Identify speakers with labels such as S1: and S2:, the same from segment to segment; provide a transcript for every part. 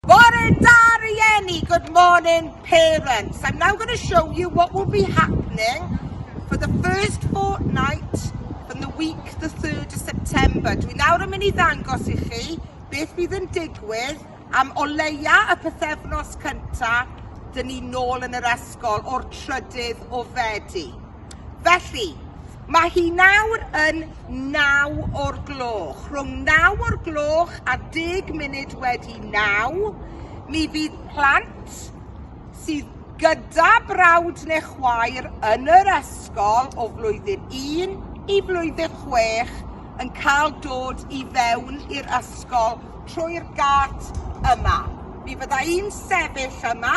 S1: Bore da rieni, good morning parents. I'm now going to show you what will be happening for the first fortnight from the week the 3rd of September. Dwi nawr yn mynd i ddangos i chi beth bydd yn digwydd am o leia y pethefnos cyntaf dyn ni nôl yn yr ysgol o'r trydydd o Fedi. Felly, mae hi nawr yn naw o'r gloch. Rhwng naw o'r gloch a deg munud wedi naw, mi fydd plant sydd gyda brawd neu chwaer yn yr ysgol o flwyddyn 1 i flwyddyn 6 yn cael dod i fewn i'r ysgol trwy'r gât yma. Mi fydda i'n sefyll yma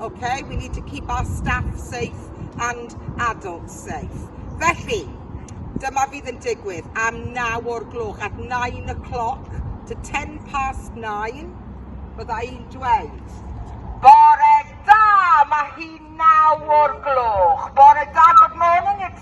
S1: ok we need to keep our staff safe and adults safe. Felly, dyma fydd yn digwydd am 9 o'r gloch, at 9 o'clock to 10 past 9, bydda i'n dweud. Bore da, mae hi 9 o'r gloch. Bore da, good morning, it's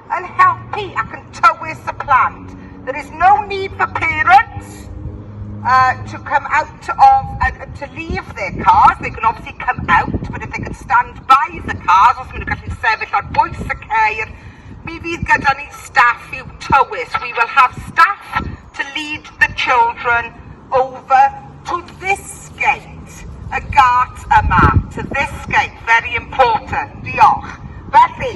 S1: yn helpu ac yn tywys y plant. There is no need for parents uh, to come out of, uh, to leave their cars. They can obviously come out, but if they can stand by the cars, os maen nhw'n gallu sefyll ar bwys y ceir, mi fydd gyda ni staff i'w tywys. We will have staff to lead the children over to this gate, y gart yma, to this gate, very important. Diolch. Felly,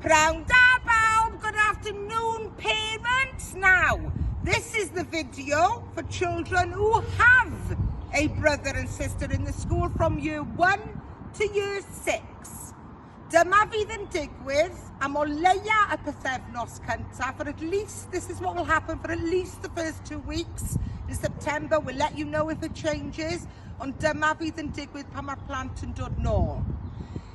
S1: Prawn da bawb, good afternoon parents. Now, this is the video for children who have a brother and sister in the school from year 1 to year 6. Dyma fydd yn digwydd am o leia y pethefnos cyntaf, for at least, this is what will happen for at least the first two weeks in September, we'll let you know if it changes, ond dyma fydd yn digwydd pan mae'r plant yn dod nôl.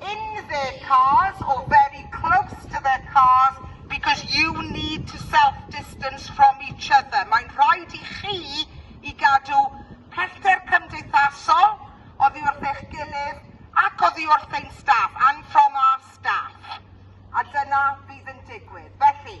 S1: in their cars or very close to their cars because you need to self distance from each other. Mae'n rhaid i chi i gadw pellter cymdeithasol oddi wrth eich gilydd ac oddi wrth ein staff, and from our staff. A dyna fydd yn digwydd. Felly,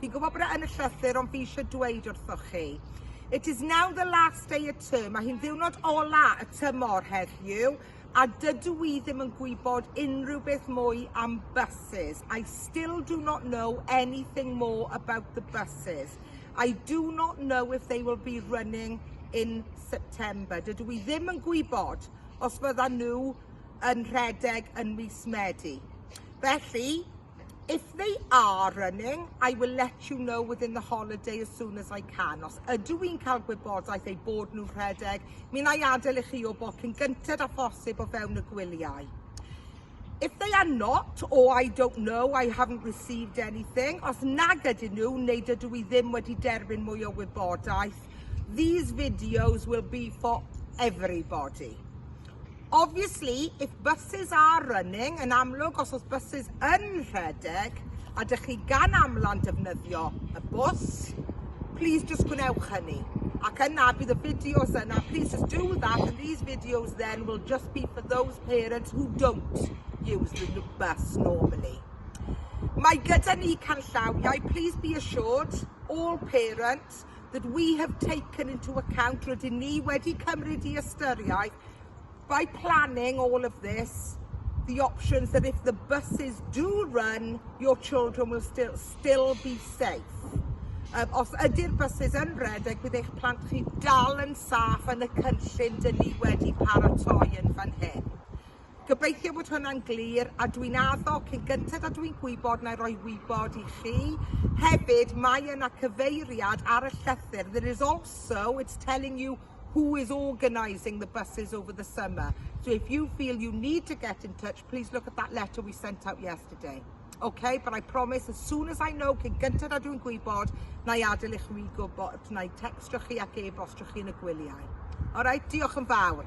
S1: Fi'n gwybod bod e yn y llythyr ond fi eisiau dweud wrthoch chi. It is now the last day of term. Mae hi'n ddiwrnod ola y tymor heddiw a dydw i ddim yn gwybod unrhyw beth mwy am buses. I still do not know anything more about the buses. I do not know if they will be running in September. Dydw i ddim yn gwybod os fyddan nhw yn rhedeg yn mis Medi. Felly, If they are running, I will let you know within the holiday as soon as I can. Os ydw i'n cael gwybodaeth eu bod nhw'n rhedeg, mi na i adael i chi o bod cyn gynted a phosib o fewn y gwyliau. If they are not, or I don't know, I haven't received anything, os nag ydyn nhw, neu dydw i ddim wedi derbyn mwy o wybodaeth, these videos will be for everybody. Obviously, if buses are running, yn amlwg os oes buses yn rhedeg a dych chi gan amlan defnyddio y bws, please just gwnewch hynny. Ac yna bydd y fideos yna, please just do that and these videos then will just be for those parents who don't use the bus normally. Mae gyda ni canllawiau, please be assured, all parents, that we have taken into account, rydyn ni wedi cymryd i ystyriaeth, by planning all of this, the options that if the buses do run, your children will still, still be safe. Um, os ydy'r buses yn redeg, bydd eich plant chi dal yn saff yn y cynllun dyn ni wedi paratoi yn fan hyn. Gobeithio bod hwnna'n glir a dwi'n addo cyn gynted a dwi'n gwybod na i roi wybod i chi. Hefyd, mae yna cyfeiriad ar y llythyr. There is also, it's telling you who is organising the buses over the summer. So if you feel you need to get in touch, please look at that letter we sent out yesterday. Okay, but I promise as soon as I know, cyn gynted a dwi'n gwybod, na i adael i chwi gwybod, na i textio chi ac e-bostio chi yn y gwyliau. Alright, diolch yn fawr.